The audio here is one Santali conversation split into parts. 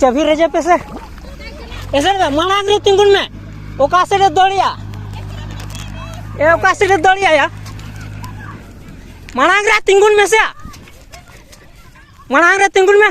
ᱪᱟᱹᱵᱷᱤ ᱨᱮᱡᱮ ᱯᱮᱥᱮ ᱮᱥᱮ ᱢᱟᱲᱟᱝ ᱨᱮ ᱛᱤᱸᱜᱩᱱ ᱢᱮ ᱚᱠᱟ ᱥᱮᱫ ᱨᱮ ᱫᱚᱲᱤᱭᱟ ᱮ ᱚᱠᱟ ᱥᱮᱫ ᱨᱮ ᱫᱚᱲᱤᱭᱟ ᱢᱟᱲᱟᱝ ᱨᱮ ᱛᱤᱸᱜᱩᱱ ᱢᱮᱥᱮ ᱢᱟᱲᱟᱝ ᱨᱮ ᱛᱤᱸᱜᱩᱱ ᱢᱮ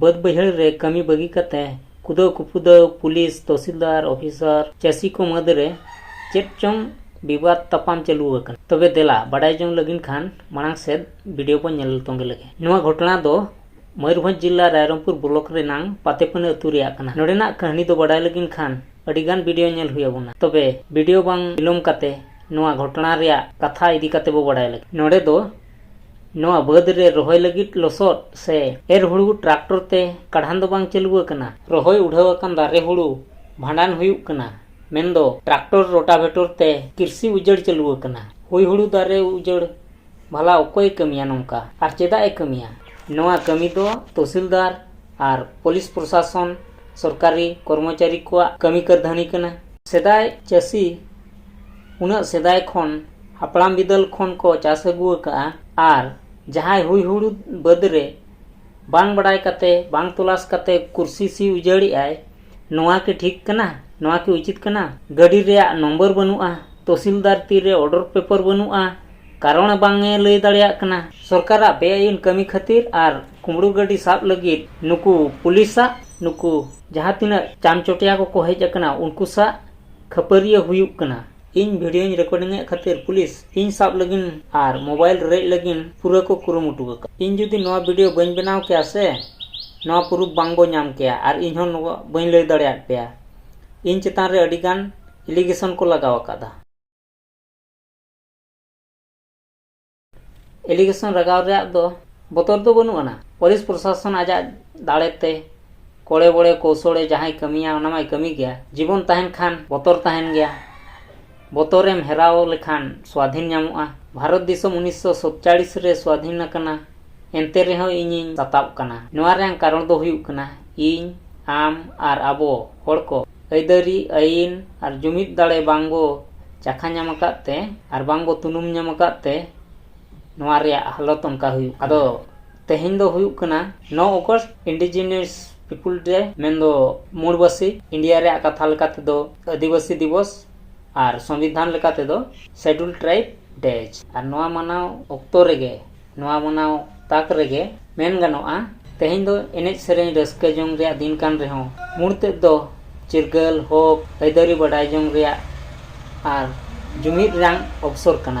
ᱵᱟᱹᱫᱽ ᱵᱟᱹᱭᱦᱟᱹᱲ ᱨᱮ ᱠᱟᱹᱢᱤ ᱵᱟᱹᱜᱤ ᱠᱟᱛᱮ ᱠᱩᱫᱟᱹᱣ ᱠᱩᱯᱩᱫᱟᱹᱣ ᱯᱩᱞᱤᱥ ᱛᱚᱦᱥᱤᱞᱫᱟᱨ ᱚᱯᱷᱤᱥᱟᱨ ᱪᱟᱹᱥᱤ ᱠᱚ ᱢᱩᱫᱽ ᱨᱮ ᱪᱮᱫ ᱪᱚᱝ ᱵᱤᱵᱟᱫ ᱛᱟᱯᱟᱢ ᱪᱟᱹᱞᱩ ᱟᱠᱟᱱᱟ ᱛᱚᱵᱮ ᱫᱮᱞᱟ ᱵᱟᱰᱟᱭ ᱡᱚᱝ ᱞᱟᱹᱜᱤᱫ ᱠᱷᱟᱱ ᱢᱟᱲᱟᱝ ᱥᱮᱫ ᱵᱷᱤᱰᱤᱭᱳ ᱵᱚᱱ ᱧᱮᱞ ᱛᱚᱸᱜᱮ ᱞᱮᱜᱮ ᱱᱚᱣᱟ ᱜᱷᱚᱴᱚᱱᱟ ᱫᱚ ᱢᱚᱭᱩᱨᱵᱷᱚᱸᱡᱽ ᱡᱤᱞᱟ ᱨᱟᱭᱨᱚᱝᱯᱩᱨ ᱵᱞᱚᱠ ᱨᱮᱱᱟᱝ ᱯᱟᱛᱮᱯᱟᱹᱱᱟᱹ ᱟᱹᱛᱩ ᱨᱮᱭᱟᱜ ᱠᱟᱱᱟ ᱱᱚᱰᱮᱱᱟᱜ ᱠᱟᱹᱦᱱᱤ ᱫᱚ ᱵᱟᱰᱟᱭ ᱞᱟᱹᱜᱤᱫ ᱠᱷᱟᱱ ᱟᱹᱰᱤᱜᱟᱱ ᱵᱷᱤᱰᱤᱭᱳ ᱧᱮᱞ ᱦᱩᱭ ᱟᱵᱚᱱᱟ ᱛᱚᱵᱮ ᱵᱷᱤᱰᱤᱭᱳ ᱵᱟᱝ ᱵᱤᱞᱚᱢ ᱠᱟᱛᱮ ᱱᱚᱣᱟ ᱜᱷᱚᱴᱚᱱᱟ ᱨᱮᱭᱟᱜ ᱠᱟᱛᱷᱟ ᱤᱫᱤ ᱠᱟᱛᱮ ᱵᱚ ᱵᱟᱰᱟᱭ ᱞᱟᱹᱜᱤᱫ ᱱᱚᱰᱮ ᱫᱚ ᱱᱚᱣᱟ ᱵᱟᱹᱫᱽ ᱨᱮ ᱨᱚᱦᱚᱭ ᱞᱟᱹᱜᱤᱫ ᱞᱚᱥᱚᱫ ᱥᱮ ᱮᱨ ᱦᱩᱲᱩ ᱴᱨᱟᱠᱴᱚᱨ ᱛᱮ ᱠᱟᱰᱷᱟᱱ ᱫᱚ ᱵᱟᱝ ᱪᱟᱹᱞᱩ ᱟᱠᱟᱱᱟ ᱨᱚᱦᱚᱭ ᱩᱰᱷᱟᱹᱣ ᱟᱠᱟᱱ ᱫᱟᱨᱮ ᱦᱩᱲᱩ ᱵᱷᱟᱸᱰᱟᱱ ᱦᱩᱭᱩᱜ ᱠᱟᱱᱟ ᱢᱮᱱᱫᱚ ᱴᱨᱟᱠᱴᱚᱨ ᱨᱳᱴᱟᱵᱷᱮᱴᱚᱨ ᱛᱮ ᱠᱨᱤᱥᱤ ᱩᱡᱟᱹᱲ ᱪᱟᱹᱞᱩ ᱟᱠᱟᱱᱟ ᱦᱩᱭ ᱦᱩᱲᱩ ᱫᱟᱨᱮ ᱩᱡᱟᱹᱲ ᱵᱷᱟᱞᱟ ᱚᱠᱚᱭᱮ ᱠᱟᱹᱢᱤᱭᱟ ᱱᱚᱝᱠᱟ ᱟᱨ ᱪᱮᱫᱟᱜ ᱮ ᱠᱟᱹᱢᱤᱭᱟ ᱱᱚᱣᱟ ᱠᱟᱹᱢᱤ ᱫᱚ ᱛᱚᱦᱥᱤᱞᱫᱟᱨ ᱟᱨ ᱯᱩᱞᱤᱥ ᱯᱨᱚᱥᱟᱥᱚᱱ ᱥᱚᱨᱠᱟᱨᱤ ᱠᱚᱨᱢᱚᱪᱟᱨᱤ ᱠᱚᱣᱟᱜ ᱠᱟᱹᱢᱤ ᱠᱟᱹᱨᱫᱷᱟᱹᱱᱤ ᱠᱟᱱᱟ ᱥᱮᱫᱟᱭ ᱪᱟᱹᱥᱤ ᱩᱱᱟᱹᱜ ᱥᱮᱫᱟᱭ ᱠᱷᱚᱱ ᱦᱟᱯᱲᱟᱢ ᱵᱤᱫᱟᱹᱞ ᱠᱷᱚᱱ ᱠᱚ ᱪᱟᱥ ᱟᱹᱜᱩ ᱟᱠᱟᱫᱼᱟ ᱟᱨ ᱡᱟᱦᱟᱸᱭ ᱦᱩᱭ ᱦᱩᱲᱩ ᱵᱟᱹᱫᱽ ᱨᱮ ᱵᱟᱝ ᱵᱟᱰᱟᱭ ᱠᱟᱛᱮᱫ ᱵᱟᱝ ᱛᱚᱞᱟᱥ ᱠᱟᱛᱮᱫ ᱠᱩᱨᱥᱤ ᱥᱤ ᱩᱡᱟᱹᱲᱮᱫ ᱟᱭ ᱱᱚᱣᱟ ᱠᱤ ᱴᱷᱤᱠ ᱠᱟᱱᱟ ᱱᱚᱣᱟ ᱠᱤ ᱩᱪᱤᱛ ᱠᱟᱱᱟ ᱜᱟᱹᱰᱤ ᱨᱮᱭᱟᱜ ᱱᱚᱢᱵᱚᱨ ᱵᱟᱹᱱᱩᱜᱼᱟ ᱛᱚᱥᱤᱞᱫᱟᱨ ᱛᱤ ᱨᱮ ᱚᱰᱟᱨ ᱯᱮᱯᱟᱨ ᱵᱟᱹᱱᱩᱜᱼᱟ ᱠᱟᱨᱚᱱ ᱵᱟᱝ ᱮ ᱞᱟᱹᱭ ᱫᱟᱲᱮᱭᱟᱜ ᱠᱟᱱᱟ ᱥᱚᱨᱠᱟᱨᱟᱜ ᱵᱮ ᱟᱹᱭᱤᱱ ᱠᱟᱹᱢᱤ ᱠᱷᱟᱹᱛᱤᱨ ᱟᱨ ᱠᱩᱢᱲᱩ ᱜᱟᱹᱰᱤ ᱥᱟᱵ ᱞᱟᱹᱜᱤᱫ ᱱᱩᱠᱩ ᱯᱩᱞᱤᱥᱟᱜ ᱱᱩᱠᱩ ᱡᱟᱦᱟᱸ ᱛᱤᱱᱟᱹᱜ ᱪᱟᱢᱪᱚᱴᱤᱭᱟᱹ ᱠᱚᱠᱚ ᱦᱮᱡ ᱟᱠᱟᱱᱟ ᱩᱱᱠᱩ ᱥᱟᱜ ᱠᱷᱟᱹᱯᱟᱹᱨᱤᱭᱟᱹ ᱦᱩᱭᱩᱜ ᱠᱟᱱᱟ ᱤᱧ ᱵᱷᱤᱰᱤᱭᱳᱧ ᱨᱮᱠᱳᱰᱤᱝ ᱮᱫ ᱠᱷᱟᱹᱛᱤᱨ ᱯᱩᱞᱤᱥ ᱤᱧ ᱥᱟᱵ ᱞᱟᱹᱜᱤᱫ ᱟᱨ ᱢᱳᱵᱟᱭᱤᱞ ᱨᱮᱡ ᱞᱟᱹᱜᱤᱫ ᱯᱩᱨᱟᱹ ᱠᱚ ᱠᱩᱨᱩᱢᱩᱴᱩ ᱟᱠᱟᱫᱟ ᱤᱧ ᱡᱩᱫᱤ ᱱᱚᱣᱟ ᱵᱷᱤᱰᱤᱭᱳ ᱵᱟᱹᱧ ᱵᱮᱱᱟᱣ ᱠᱮᱭᱟ ᱥᱮ ᱱᱚᱣᱟ ᱯᱩᱨᱩᱯᱷ ᱵᱟᱝ ᱵᱚᱱ ᱧᱟᱢ ᱠᱮᱭᱟ ᱟᱨ ᱤᱧ ᱦᱚᱸ ᱱᱚᱣᱟ ᱵᱟᱹᱧ ᱞᱟᱹᱭ ᱫᱟᱲᱮᱭᱟᱫ ᱯᱮᱭᱟ ᱤᱧ ᱪᱮᱛᱟᱱ ᱨᱮ ᱟᱹᱰᱤ ᱜᱟᱱ ᱮᱞᱤᱜᱮᱥᱚᱱ ᱠᱚ ᱞᱟᱜᱟᱣ ᱟᱠᱟᱫᱟ ᱮᱞᱤᱜᱮᱥᱚᱱ ᱨᱟᱜᱟᱣ ᱨᱮᱭᱟᱜ ᱫᱚ ᱵᱚᱛᱚᱨ ᱫᱚ ᱵᱟᱹᱱᱩᱜ ᱟᱱᱟ ᱯᱩᱞᱤᱥ ᱯᱨᱚᱥᱟᱥᱚᱱ ᱟᱡᱟᱜ ᱫᱟᱲᱮᱛᱮ ᱠᱚᱲᱮ ᱵᱚᱲᱮ ᱠᱚᱣᱥᱚᱲᱮ ᱡᱟᱦᱟᱸᱭ ᱠᱟᱹᱢᱤᱭᱟ ᱚᱱᱟ ᱢᱟᱭ ᱠᱟᱹᱢᱤ ᱜᱮᱭᱟ ᱡᱤᱵᱚᱱ ᱛᱟᱦᱮᱱ ᱠᱷᱟᱱ ᱵᱚᱛᱚᱨ ᱛᱟᱦᱮᱱ ᱜᱮᱭᱟ ᱵᱚᱛᱚᱨᱮᱢ ᱦᱮᱨᱟᱣ ᱞᱮᱠᱷᱟᱱ ᱥᱣᱟᱫᱷᱤᱱ ᱧᱟᱢᱚᱜᱼᱟ ᱵᱷᱟᱨᱚᱛ ᱫᱤᱥᱚᱢ ᱩᱱᱤᱥᱥᱚ ᱥᱚᱛᱪᱟᱲᱤᱥ ᱨᱮ ᱥᱣᱟᱫᱷᱤᱱ ᱟᱠᱟᱱᱟ ᱮᱱᱛᱮ ᱨᱮᱦᱚᱸ ᱤᱧᱤᱧ ᱥᱟᱛᱟᱵ ᱠᱟᱱᱟ ᱱᱚᱣᱟ ᱨᱮᱭᱟᱝ ᱠᱟᱨᱚᱱ ᱫᱚ ᱦᱩᱭᱩᱜ ᱠᱟᱱᱟ ᱤᱧ ᱟᱢ ᱟᱨ ᱟᱵᱚ ᱦᱚᱲ ᱠᱚ ᱟᱹᱭᱫᱟᱹᱨᱤ ᱟᱹᱭᱤᱱ ᱟᱨ ᱡᱩᱢᱤᱫ ᱫᱟᱲᱮ ᱵᱟᱝ ᱵᱚ ᱪᱟᱠᱷᱟ ᱧᱟᱢ ᱟᱠᱟᱫ ᱛᱮ ᱟᱨ ᱵᱟᱝ ᱵᱚ ᱛᱩᱱᱩᱢ ᱧᱟᱢ ᱟᱠᱟᱫ ᱛᱮ ᱱᱚᱣᱟ ᱨᱮᱭᱟᱜ ᱦᱟᱞᱚᱛ ᱚᱱᱠᱟ ᱦᱩᱭᱩᱜ ᱠᱟᱱᱟ ᱟᱫᱚ ᱛᱮᱦᱮᱧ ᱫᱚ ᱦᱩᱭᱩᱜ ᱠᱟᱱᱟ ᱱᱚ ᱚᱜᱚᱥᱴ ᱤᱱᱰᱤᱡᱤᱱᱤᱭᱟᱥ ᱯᱤᱯᱩᱞ ᱰᱮ ᱢᱮᱱ ᱫᱚ ᱢᱩᱬ ᱵᱟᱹᱥᱤ ᱤᱱᱰᱤᱭᱟ ᱨᱮᱭᱟᱜ ᱠᱟᱛᱷᱟ ᱞᱮᱠᱟ ᱛᱮᱫᱚ ᱟᱹᱫᱤᱵᱟᱹᱥᱤ ᱫᱤᱵᱚᱥ ᱟᱨ ᱥᱚᱝᱵᱤᱫᱷᱟᱱ ᱞᱮᱠᱟ ᱛᱮᱫᱚ ᱥᱮᱰᱩᱞ ᱴᱨᱟᱭᱤᱵᱽ ᱰᱮ ᱟᱨ ᱱᱚᱣᱟ ᱢᱟᱱᱟᱣ ᱚᱠᱛᱚ ᱨᱮᱜᱮ ᱱᱚᱣᱟ ᱢᱟᱱᱟᱣ ᱛᱟᱠ ᱨᱮᱜᱮ ᱢᱮᱱ ᱜᱟᱱᱚᱜᱼᱟ ᱛᱮᱦᱮᱧ ᱫᱚ ᱮᱱᱮᱡ ᱥᱮᱨᱮᱧ ᱨᱟᱹᱥᱠᱟᱹ ᱡᱚᱝ ᱨᱮᱭᱟᱜ ᱫᱤᱱ ᱠᱟᱱ ᱨᱮᱦᱚᱸ ᱢᱩᱬ ᱛᱮᱫ ᱫᱚ ᱪᱤᱨᱜᱟᱹᱞ ᱦᱚᱠ ᱟᱹᱭᱫᱟᱹᱨᱤ ᱵᱟᱰᱟᱭ ᱡᱚᱝ ᱨᱮᱭᱟᱜ ᱟᱨ ᱡᱩᱢᱤᱫ ᱨᱮᱭᱟᱜ ᱚᱵᱽᱥᱚᱨ ᱠᱟᱱᱟ